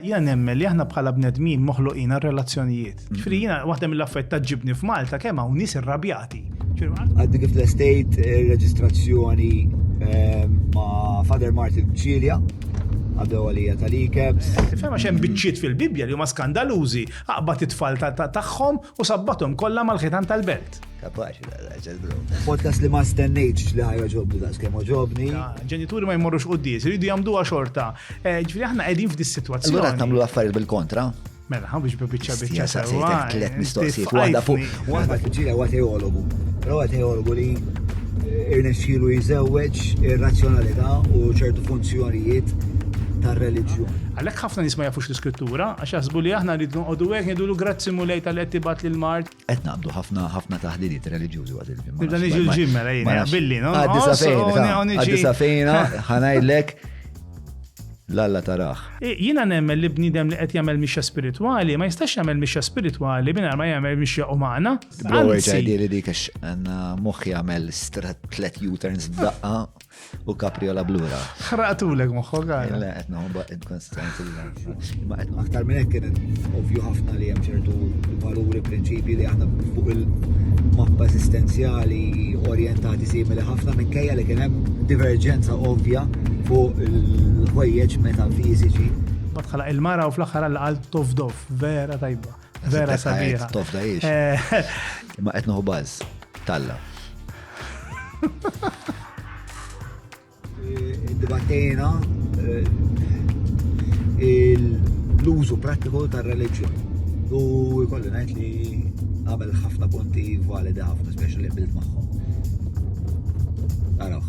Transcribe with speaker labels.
Speaker 1: Jiena nemmen li aħna bħala bnedmin moħluqin għal relazzjonijiet. Ġifieri jiena waħda mill-affarijiet taġġibni f'Malta kemm hawn nies irrabjati. Għaddi kif l-estejt reġistrazzjoni ehm, ma' Father Martin Ċilja għaddew għalija tal-ikebs. Tifhem għax hemm biċċiet fil-Bibbja li huma skandalużi, aqbad it-tfal tagħhom U sabbathom kollha mal-ħitan tal-belt. Kapaċi l-għazza l-brom. Podcast li ma stennejtx li ħajja ġobdu da' skem ġobni. Ġenituri ma jmorrux u d-dies, rridu jamdu xorta. Eh, ġifri aħna għedin f'dis situazzjoni. Allora tamlu l-affarijiet bil-kontra. Mela, ħan biex bieċa bieċa sewa. Tlet mistoqsijiet, waħda fuq. Waħda fil-ġira huwa teologu. Però huwa teologu li eh, irnexxielu jżewweġ ir-razzjonalità u ċertu funzjonijiet tar-reliġjun. Għalhekk ħafna nies ma jafux l-iskrittura, Għax jaħsbu li aħna rridu noqogħdu hekk, ngħidulu grazzi Mulej talli qed tibgħat lill-mard. Qed naqbdu ħafna ħafna taħliliet reliġjużi waqt il-ġimgħa. Nibda niġi l-ġim mela jien, billi, no? Għaddi sa fejna, għaddi sa fejna, ħanajdlek l-alla taraħ. Jina nemmen li bnidem li qed jagħmel mixja spiritwali, ma jistax jagħmel mixja spiritwali mingħajr ma jagħmel mixja umana. Għalli li dik għax għandna moħħ jagħmel tlet U-turns f'daqqa. U kapriola blura. Xraqtulek moħħok għal. Le, qed noħba inkonstant Ma qed aktar minn hekk kienet ovvju ħafna li hemm ċertu valuri prinċipji li aħna fuq il-mappa esistenzjali orjentati simili ħafna minkejja li kien hemm diverġenza ovvja fuq il-ħwejjeġ metafiżiċi. Ma tħalaq il-mara u fl-aħħar għal tofdof, vera tajba. Vera sabiħa. Tofda jiex. Eh. Ma qed noħu baż. Talla. Dibattejna eh, l-użu prattiku tar-reliġjon. U jkolli ngħid li għamel ħafna punti validi ħafna, speċi li bilt magħhom. Araħ.